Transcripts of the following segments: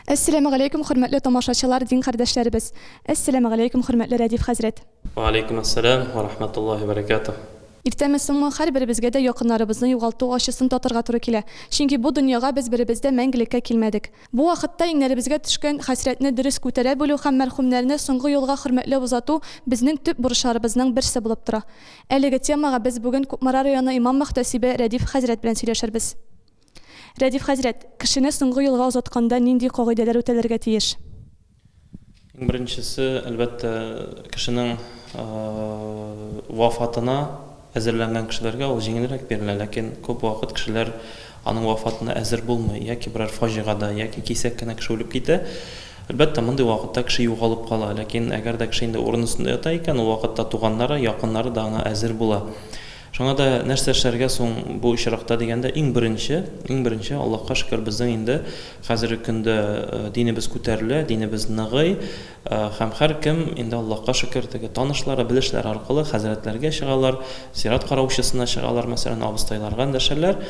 Әссәләмегаләйкүм хөрмәтле тамашачылар дин кардәшләребез! Әссәләмегаләйкүм хөрмәтле Рәдиф хәзрәт! Вәгаләйкүм әссәләм вә рахмәтуллаһи вә бәрәкәтүһ! Иртәме соңмы, һәрберебезгә дә якыннарыбызны югалту ачысын татырга туры килә. Чөнки бу дөньяга без беребез дә мәңгелеккә килмәдек. Бу вакытта иңнәребезгә төшкән хәсрәтне дөрес күтәрә белү һәм мәрхүмнәрне соңгы юлга хөрмәтләп озату безнең төп бурычларыбызның берсе булып тора. Әлеге темага без бүген Кукмара районы имам-мөхтәсибе Рәдиф хәзрәт белән сөйләшербез. Рәдиф хәзрәт, кешене соңгы юлга озатканда нинди кагыйдәләр үтәлергә тиеш? Иң беренчесе, әлбәттә, кешенең вафатына әзерләнгән кешеләргә ул җиңелрәк бирелә, ләкин күп вакыт кешеләр аның вафатына әзер булмый, яки берәр фаҗигада, яки кисәк кенә кеше үлеп китә. Әлбәттә, мондый вакытта кеше югалып кала, ләкин әгәр дә кеше инде урын өстендә ята икән, ул вакытта туганнары, якыннары да аңа әзер була. Шуңа да нәрсә эшләргә соң бу очракта дигәндә, иң беренче, иң беренче, Аллаһка шөкер, безнең инде хәзерге көндә динебез күтәрелә, динебез ныгый һәм һәркем инде Аллаһка шөкер, теге танышлары, белешләре аркылы хәзрәтләргә чыгалар, зират караучысына чыгалар, мәсәлән, абыстайларга эндәшәләр.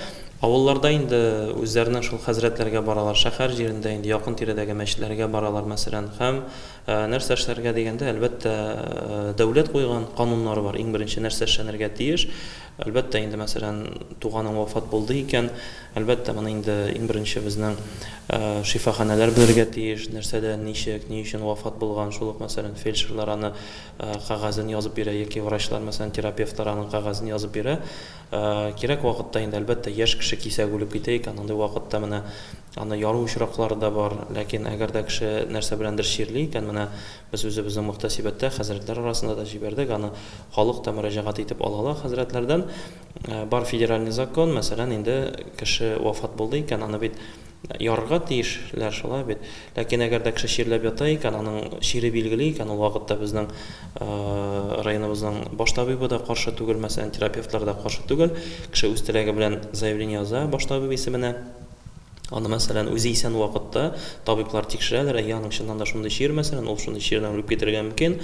Авылларда инде үзләренең шул хәзрәтләргә баралар, шәһәр җирендә инде якын-тирәдәге мәчетләргә баралар, мәсәлән, һәм. Нәрсә эшләргә дигәндә, әлбәттә, дәүләт куйган кануннар бар, иң беренче нәрсә эшләнергә тиеш. Әлбәттә, инде, мәсәлән, туганың вафат булды икән, әлбәттә, моны инде иң беренче безнең шифаханәләр белергә тиеш, нәрсәдә, ничек, ни өчен вафат булган, шул ук, мәсәлән, фельдшерлар аны кәгазен язып бирә яки врачлар, мәсәлән, терапевтлар аның кәгазен язып бирә. Кирәк вакытта инде, әлбәттә, яшь кеше кисәк үлеп китә икән, андый вакытта менә Аны яру очраклары да бар. Ләкин әгәр дә кеше нәрсә беләндер чирли икән, менә без үзебезнең мөхтәсибәттә хәзрәтләр арасында да җибәрдек, аны халык та мөрәҗәгать итеп ала ла хәзрәтләрдән. Бар федеральный закон, мәсәлән, инде кеше вафат булды икән, аны бит ярырга тиеш ләр, шулай бит? Ләкин әгәр дә кеше чирләп ята икән, аның чире билгеле икән, ул вакытта безнең районыбызның баш табибы да каршы түгел, мәсәлән, терапевтлар да каршы түгел, кеше үз теләге белән заявление яза баш табиб исеменә. Аны, мәсәлән, үзе исән вакытта табиблар тикшерәләр, әйе, аның чыннан да шундый чир, мәсәлән, ул шундый чирдән үлеп китергә мөмкин.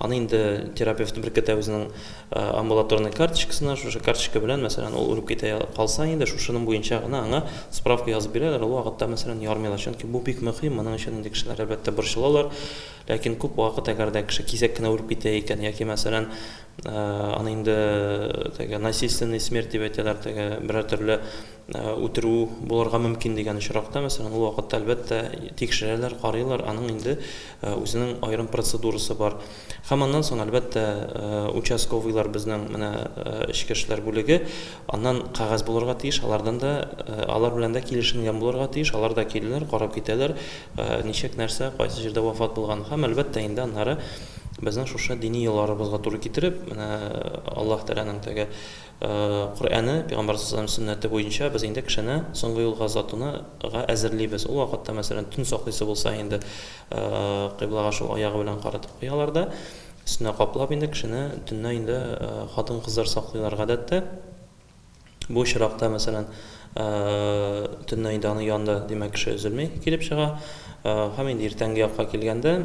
Аны инде терапевт беркетә үзенең э, амбулаторный карточкасына, шушы карточка белән, мәсәлән, ул үлеп китә калса инде, шушының буенча гына аңа справка язып бирәләр, ул вакытта, мәсәлән, ярмыйлар. Чөнки бу бик мөһим, моның өчен инде кешеләр, әлбәттә, борчылалар. Ләкин күп вакыт, әгәр дә кеше кисәк кенә үлеп китә икән, яки, мәсәлән, э, аны инде теге насильственный смерть дип әйтәләр, теге берәр төрле үтерү булырга мөмкин дигән очракта, мәсәлән, ул вакытта, әлбәттә, тикшерәләр, карыйлар, аның инде үзенең аерым процедурасы бар. Һәм аннан соң, әлбәттә, участковыйлар безнең менә эчке эшләр бүлеге, аннан кәгазь булырга тиеш, алардан да, алар белән дә килешенгән булырга тиеш, алар да киләләр, карап китәләр, ничек, нәрсә, кайсы җирдә вафат булган. Һәм, әлбәттә, инде аннары безнең шушы дини йолаларыбызга туры китереп, менә Аллаһ Тәгаләнең теге Коръәне, пәйгамбәр саллаллаһу галәйһи ва сәлләм сөннәте буенча без инде кешене соңгы юлга озатуны га әзерлибез. Ул вакытта, мәсәлән, төн саклыйсы булса инде, кыйблага шул аягы белән каратып куялар да, өстенә каплап инде кешене төнлә инде хатын-кызлар саклыйлар гадәттә. Бу очракта, мәсәлән, төнлә инде аның янында, димәк, кеше өзелми килеп чыга. Һәм инде иртәнге якка килгәндә,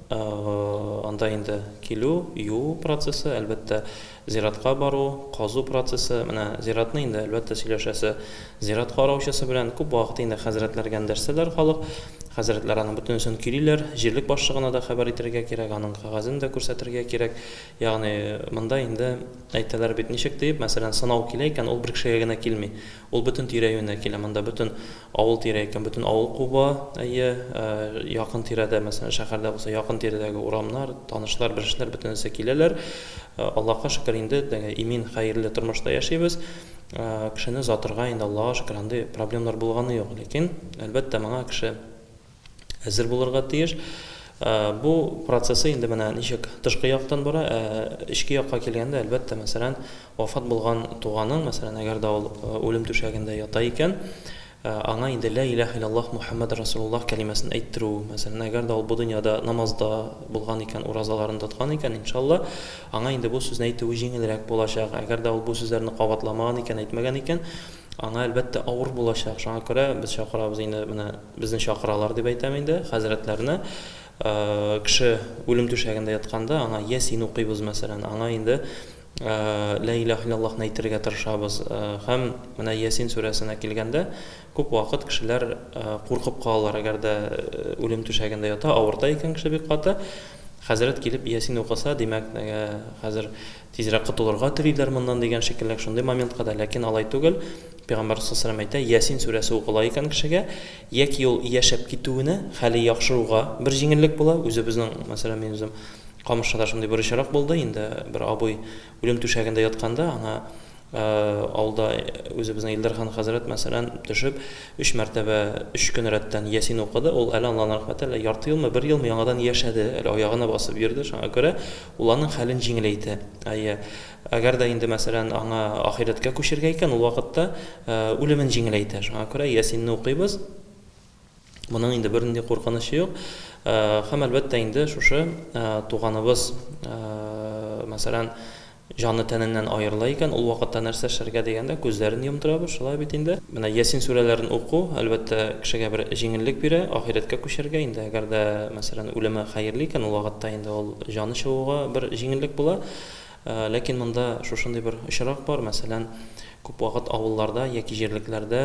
анда инде килү, юу процессы, әлбәттә, Зиратка бару, казу процессы, менә зиратны инде, әлбәттә, сөйләшәсе. Зират караучысы белән күп вакыт инде хәзрәтләр гәндәшсәләр халык. Хәзрәтләр аның бөтенесен көйлиләр. Җирлек башлыгына да хәбәр итәргә кирәк, аның кәгазен дә күрсәтергә кирәк. Ягъни, монда инде әйтәләр бит, ничек диеп, мәсәлән, сынау килә икән, ул бер кешегә генә килми. Ул бөтен тирә-юньне килә, монда бөтен авыл тирә икән, бөтен авыл куба, әйе, якын тирәдә, мәсәлән, шәһәрдә булса, якын тирәдәге урамнар, танышлар, белешләр бөтенесе киләләр. Аллага шөкер, инде теге имин, хәерле тормышта яшибез. Кешене озатырга инде, Аллага шөкер, андый проблемнар булганы юк. Ләкин, әлбәттә, моңа кеше. әзер булырга тиеш. Бу процессы инде менә ничек тышкы яктан бара, ә эчке якка килгәндә, әлбәттә, мәсәлән, вафат булган туганың, мәсәлән, әгәр дә ул үлем түшәгендә ята икән, аңа инде Лә иләһә илляллаһ Мухәммәд рәсулуллаһ кәлимәсен әйттерү, мәсәлән, әгәр дә ул бу дөньяда намазда булган икән, уразаларын тоткан икән, иншалла, аңа инде бу сүзне әйтүе җиңелрәк булачак. Әгәр дә ул бу сүзләрне кабатламаган икән, әйтмәгән икән, аңа, әлбәттә, авыр булачак. Шуңа күрә без чакырабыз инде менә Безне чакыралар дип әйтәм инде, хәзрәтләрне. Кеше үлем түшәгендә ятканда, аңа Ясин укыйбыз, мәсәлән, аңа инде Лә илаһ иллаллаһны әйтергә тырышабыз. Һәм менә Ясин сүрәсенә килгәндә, күп вакыт кешеләр куркып калалар, әгәр дә үлем түшәгендә ята, авырта икән кеше бик каты, хәзрәт килеп Ясин укыса, димәк, хәзер Тизрәк котылырга телиләр моннан дигән шикелле шундый моментка да, ләкин алай түгел, Пәйгамбәрбез саллаллаһу галәйһи ва сәлләм әйтә, Ясин сүрәсе укыла икән кешегә, яки ул яшәп китүенә, хәле яхшыруга бер җиңеллек була, үзебезнең, мәсәлән, мин үзем Камышныда шундый бер очрак булды, инде бер абый үлем түшәгендә ятканда, аңа авылда үзебезнең Илдар хан хәзрәт, мәсәлән, төшеп, өч мәртәбә, өч көн рәттән Ясин укыды, ул әле, Аллаһның рәхмәте, әле ярты елмы, бер елмы яңадан яшәде, әле аягына басып йөрде, шуңа күрә Ул аның хәлен җиңеләйтә. Әйе, әгәр дә инде, мәсәлән, аңа ахирәткә күчергә икән, ул вакытта үлемен җиңеләйтә. Шуңа күрә Ясинны укыйбыз. Моның инде бернинди куркынычы юк. Һәм, әлбәттә, инде шушы туганыбыз, мәсәлән, җаны тәненнән аерыла икән, ул вакытта нәрсә эшләргә дигәндә, күзләрен йомдырабыз, шулай бит инде. Менә Ясин сүрәләрен уку, әлбәттә, кешегә бер җиңеллек бирә, ахирәткә күчәргә. Инде әгәр дә, мәсәлән, үлеме хәерле икән, ул вакытта инде ул Җаны чыгуга бер җиңеллек була. Ләкин монда шушындый бер очрак бар, мәсәлән, күп вакыт авылларда яки җирлекләрдә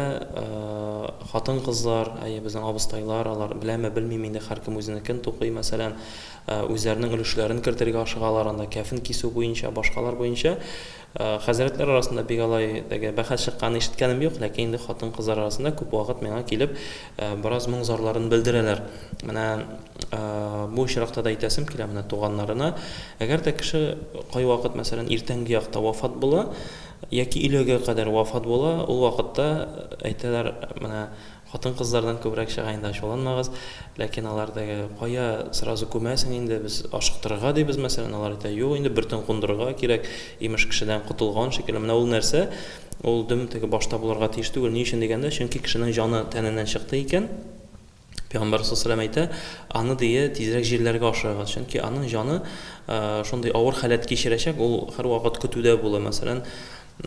хатын-кызлар, әйе, безнең абыстайлар, алар беләме, белмиме инде, һәркем үзенекен тукый, мәсәлән, үзләренең өлешләрен кертергә ашыгалар анда, кәфен кисү буенча, башкалар буенча. Хәзрәтләр арасында бик алай теге бәхәс чыкканын ишеткәнем юк, ләкин инде хатын-кызлар арасында күп вакыт миңа килеп, бераз моң-зарларын белдерәләр. Менә бу очракта да әйтәсем килә менә туганнарына, әгәр дә кеше кайвакыт, мәсәлән, иртәнге якта вафат була яки өйләгә кадәр вафат була, ул вакытта әйтәләр, менә Хатын-кызлардан күбрәк чыга инде ачуланмагыз, ләкин алар теге кая сразу күмәсең инде, без ашыктырырга дибез, мәсәлән, алар әйтә, юк инде бер төн кундырырга кирәк, имеш кешедән котылган шикелле, менә ул нәрсә, ул дөм теге башта булырга тиеш түгел, ни өчен дигәндә, чөнки кешенең җаны тәненнән чыкты икән, пәйгамбәр сасалам әйтә, аны дие тизрәк җирләргә ашырыгыз, чөнки аның җаны шундый авыр халәт кичерәчәк, ул һәрвакыт көтүдә була, мәсәлән,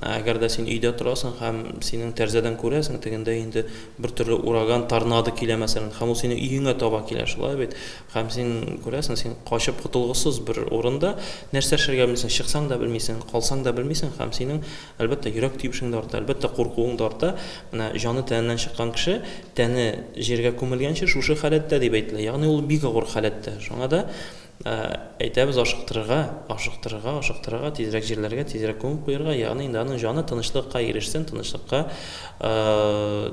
Ә әгәр дә син өйдә торасың һәм синең тәрзәдән күрәсең, тегендә инде бер төрле ураган, торнадо килә, мәсәлән, һәм ул синең өеңә таба килә, шулай бит? Һәм син күрәсең, син качып котылгысыз бер урында, нәрсә эшләргә белмисең, чыксаң да белмисең, калсаң да белмисең һәм синең, әлбәттә, йөрәк тибешең дә арта, әлбәттә, куркуың да арта. Менә җаны тәненнән чыккан кеше, тәне җиргә күмелгәнче шушы халәттә дип әйтелә. Ягъни ул бик авыр халәттә. Шуңа да. Ә әйтәбез ашыктырырга, ашыктырырга, ашыктырырга, тизрәк җирләргә, тизрәк күмеп куерга, ягъни инде аның җаны тынычлыкка ирешсен, тынычлыкка,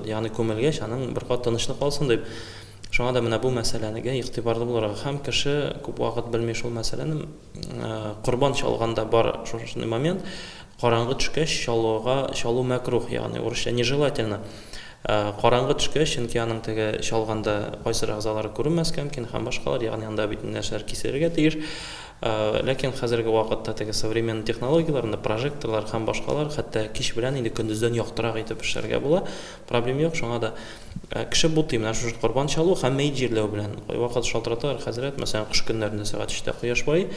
ягъни күмелгәч, аның бер кат тынычлык алсын дип. Шуңа да менә бу мәсьәләнегә игътибарлы булырга һәм кеше күп вакыт белми шул мәсьәләне, корбан чалганда бар шушындый момент, Караңгы төшкәч чалуга чалу мәкруһ, ягъни урысча нежелательно. Караңгы төшкәч, чөнки аның теге чалганда кайсыр әгъзалары күренмәскә мөмкин һәм башкалар, ягъни анда бит нәрсәләр киселергә тиеш. Ләкин хәзерге вакытта теге современный технологияләр, анда прожекторлар һәм башкалар, хәтта кич белән инде көндездән яктырак итеп эшләргә була. Проблем юк, шуңа да кеше бутый менә шушы корбан чалу һәм мәет җирләү белән. Кайвакыт шалтыраталар, хәзрәт, мәсәлән, кыш көннәрендә сәгать өчтә кояш баый,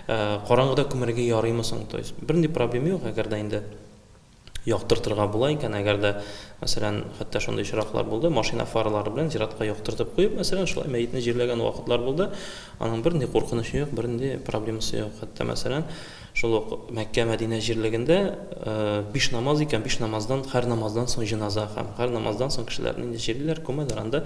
Ә караңгыда күмәргә ярыймы соң? То есть бернинди проблем юк, әгәр дә инде яктыртырга була икән, әгәр дә, мәсәлән, хәтта шундый очраклар булды, машина фаралары белән зиратка яктыртып куеп, мәсәлән, шулай мәетне җирләгән вакытлар булды. Аның бернинди куркынычы юк, бернинди проблемасы юк. Хәтта, мәсәлән, шул ук Мәккә, Мәдинә җирлегендә биш намаз икән, биш намаздан, һәр намаздан соң җеназа һәм һәр намаздан соң кешеләрне инде җирлиләр, күмәләр, анда